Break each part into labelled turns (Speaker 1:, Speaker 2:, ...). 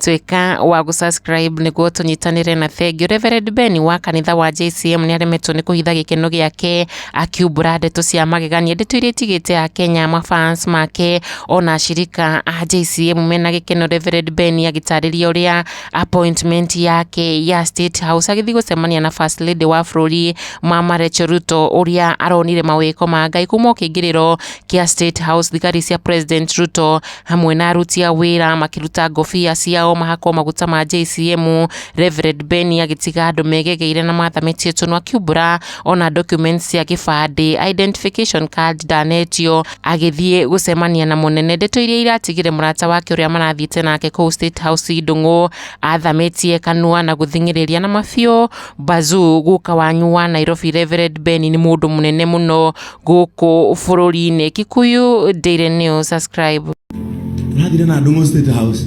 Speaker 1: tuĩka wa gũsubscribe nĩguo tũnyitanĩre na thengi Reverend Ben wa kanitha wa JCM nĩ aremetwo nĩ kũhitha gĩkeno gĩake akiumbũra ndeto cia magegania ndeto iria itigĩte a Kenya mafans make ona ashirika a JCM mena gĩkeno Reverend Ben agĩtarĩria ũrĩa appointment yake ya State House agĩthiĩ gũcemania na First Lady wa bũrũri Mama Rachel Ruto ũrĩa aronire mawĩko ma Ngai kuma o kĩingĩrĩro kĩa State House thigari cia President Ruto hamwe na aruti a wĩra makĩruta ngobia ciao mahakwo maguta ma JCM Reverend Ben agĩtiga andũ megegeire na mathamĩtie tũnwa akiumbũra ona documents cia gĩbandĩ identification card ndanetio agĩthiĩ gũcemania na mũnene ndeto iria iratigire mũrata wake ũrĩa marathiĩte nake kũu State House Ndung'u athamĩtie kanua na gũthing'ĩrĩria na mabiũ Bazuu guka wanyu wa Nairobi Reverend Ben nĩ mũndũ mũnene mũno gũkũ bũrũri-inĩ. Kikuyu Daily News, subscribe. Nagire na Ndung'u State House.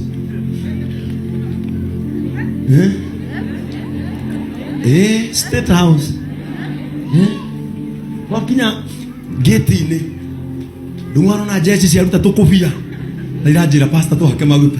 Speaker 1: Eh? Eh, State House. Eh? Wakinya gate-inĩ. Ndung'u arona jeshi ciaruta tũkũbia. Na iranjĩra pastor tũhake maguta.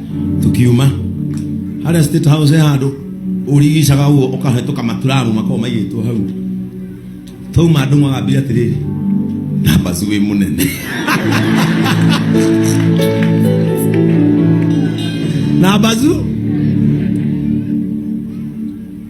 Speaker 1: tukiuma harĩa state house handũ ũrigicaga ũguo ũkahĩtũka maturamu makorwo maigĩtwo hau twauma andũ magambire atĩrĩrĩ nambaci wĩ mũnene nambacu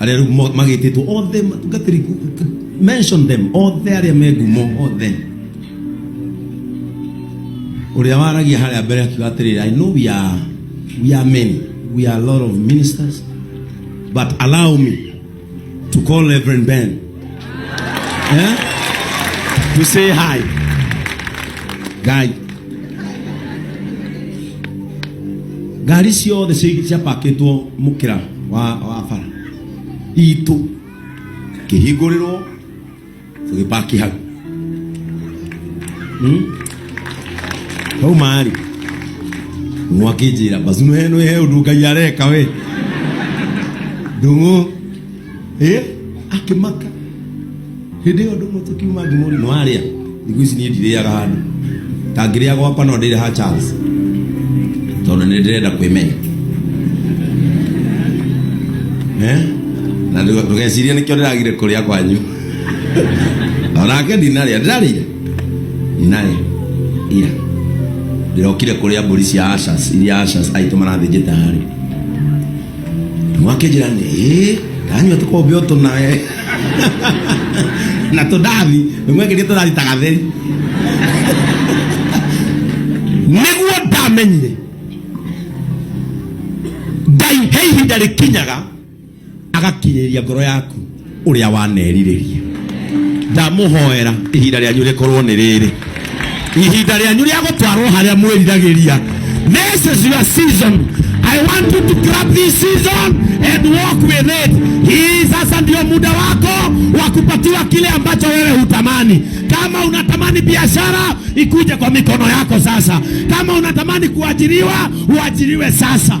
Speaker 1: arĩa rĩu mo- magĩtĩtwo othe matungatĩri ku- ku- mention them othe arĩa me ngumo othe ũrĩa waragia harĩa mbere akiuga atĩrĩrĩ i know we are, we are many we are a lot of ministers but allow me to call reverend ben Eh? To say hi. Guy. Ngari ciothe ciapakĩtwo mũkĩra wa wa bara itũ kĩhingũrĩrwo tũgĩpaki hau Hmm? hau marĩ nwa kĩnjĩra bacu nĩ he ũndũ ngai areka we ndũng'ũ eh akimaka hindi yo ndu mutu kiuma ndimuri no aria thiku ici nie ndiriaga handu tangiria gwakwa no ndire ha chance tondu ni ndirenda kwimenya eh na ndugeciria nikio ndiragire kuria kwanyu onake ndinaria ndirarire ndinaria ira ndĩrokire kũrĩa mbũri cia ashas iria ashas aitũ marathĩnjĩte harĩ mwake jirani eh kanywa tuko bio tunaye na tudathi mwake ndio tudathi tagatheri niguo ndamenyire ngai he ihinda rĩkinyaga agakinyĩria ngoro yaku ũrĩa wanerirĩria ndamũhoera ihinda rĩanyu rĩkorwo nĩ rĩrĩ ihinda rĩanyu rĩa gũtwarwo harĩa mwĩriragĩria this is your season i want you to grab this season and walk with it hii sasa ndio muda wako wa kupatiwa kile ambacho wewe hutamani kama unatamani biashara ikuje kwa mikono yako sasa kama unatamani kuajiriwa uajiriwe sasa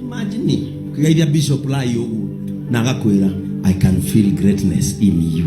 Speaker 1: imagine ukigeithia bishop lai ũguo na agakwĩra i can feel greatness in you